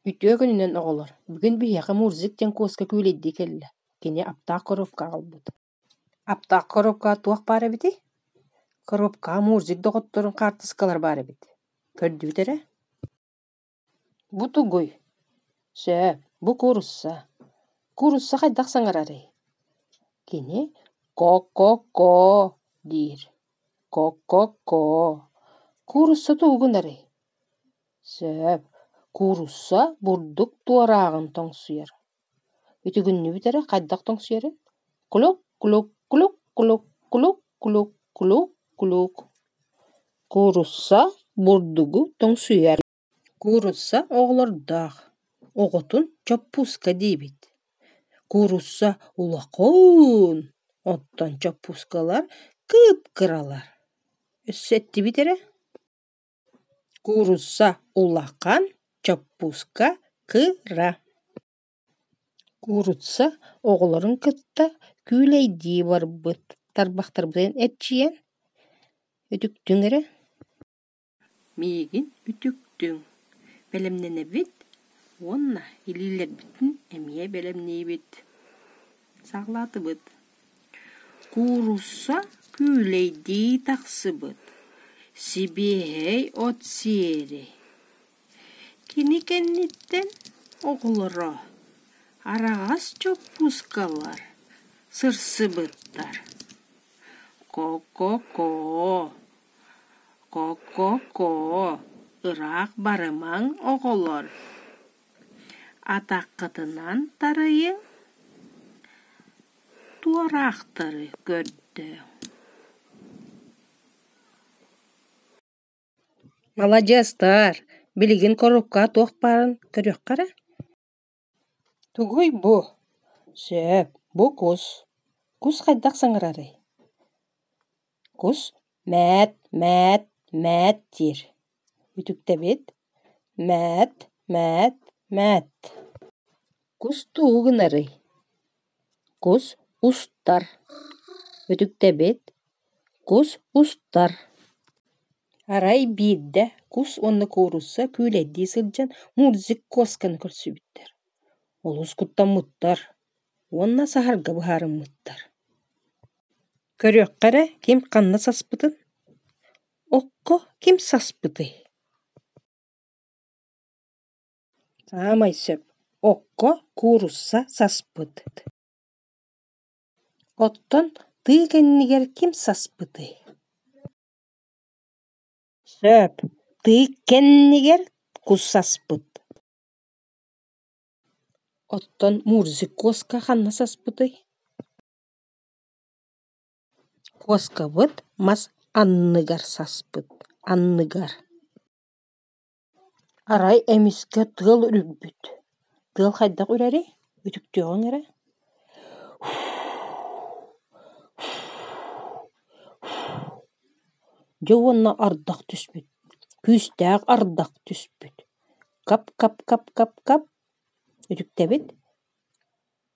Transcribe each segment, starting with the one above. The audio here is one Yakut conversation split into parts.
Үтүө күнүнэн, оҕолор! Бүгүн биһиэхэ Мурзик диэн куоска күүлэйдии кэллэ. Кини аптаах коробка аҕалбыт. Аптаах коробкаҕа туох баар эбитий? Коробкаҕа Мурзик доҕотторун хаартыскалар баар эбит. Көрдүүт эрэ. Бу тугуй? Сөп, бу куурусса. Куурусса хайдах саҥарарый? Кини «ко-ко-ко» диир. «Ко-ко-ко» куурусса тугугун арый? Сөп, куурусса бурдук туорааҕын тоҥсуйар. Үтүгүннүүбүт эрэ хайдах тоҥсуйарын кулук кулук кулук кулук кулук кулук кулук кулук куурусса бурдугу тоҥсуйар куурусса оҕолордоох оҕотун чоппууска диибит куурусса улахан оттон чоппуускалар кып-кыралар өссө эттибит эрэ Куурусса улахан, чоппууска кыра Куурусса оҕолорун кытта күүлэйдии барбыт тарбахтарбытын эрчийэн үтүктүҥ эрэ Миигин үтүктүҥ, бэлэмнэнэбит уонна илиилэрбитин эмиэ бэлэмниибит, саҕалаатыбыт Куурусса күүлэйдии тахсыбыт, сибиэһэй от сиэри Кини кэнниттэн оҕолоро араҕас чоппускалар сырсыбыттар «Ко-ко-ко, ко-ко-ко, ыраах барымаҥ, оҕолор» Атаххытынан тарыйыҥ, туораахтары көрдө Маладьыастар, билигин корукка туох баарын көрүөххэ эрэ Тугуй бу? Сөп, бу кус. Кус хайдах саҥарарый? Кус мээт, мээт, мээт диир. Үтүктэбит мээт, мээт, мээт. Кус тугу гынарый? Кус устар. Үтүктэбит кус устар. Арай биирдэ кус уонна куурусса күүлэйдии сылдьан Мурзик Куосканы көрсүбүттэр. Олус куттаммыттар уонна саһарга быһаарыммыттар Көрүөххэ эрэ ким ханна саспытын, окко ким саспытый Саамай сөп окко куурусса саспыт Оттон тыы кэннигэр ким саспытый Сөп тыы кэннигэр кус саспыт Оттон мурзикоска ханна саспытый Куоскабыт мас анныгар саспыт, анныгар. Арай эмискэ тыал үрүппүт. Тыал хайдах үрэрий? Үтүктүөҕүҥ эрэ. Дьэ уонна ардах түспүт. Күүстээх ардах түспүт. Кап-кап-кап-кап-кап. Үтүктэбит.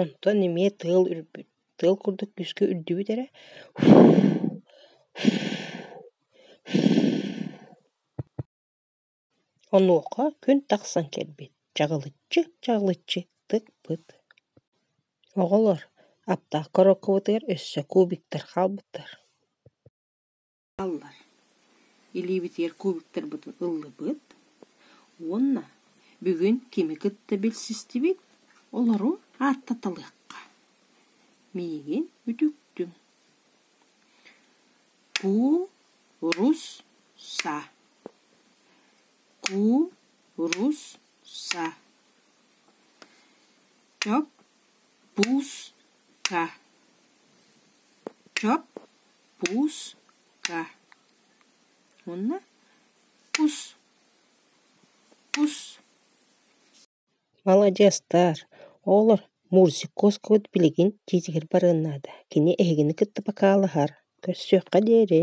Онтон эмиэ тыал үрбүт, тыал курдук күүскэ үрдүбүт эрэ онуоха күн тахсан кэлбит, чаҕылыччы, чаҕылыччы тык-пыт. Оҕолор аптаакка оруоккабытыгар өссө кубиктар хаалбыттар Аллан илиибитигэр кубоктарбытын ыллыбыт уонна бүгүн кими кытта билсистибит, олору ааттаталыахха. Миигин үтүктүҥ. Ку-рус-са. Ку-рус-са. Чоп-пус-ка. Чоп Пуска уонна кус кус Маладьыастаар, оҕолор Мурзиковскабыт билигин дьиэтигэр барыан наада, кини эһигини кытта покаалаһар, көрсүөххэ диэри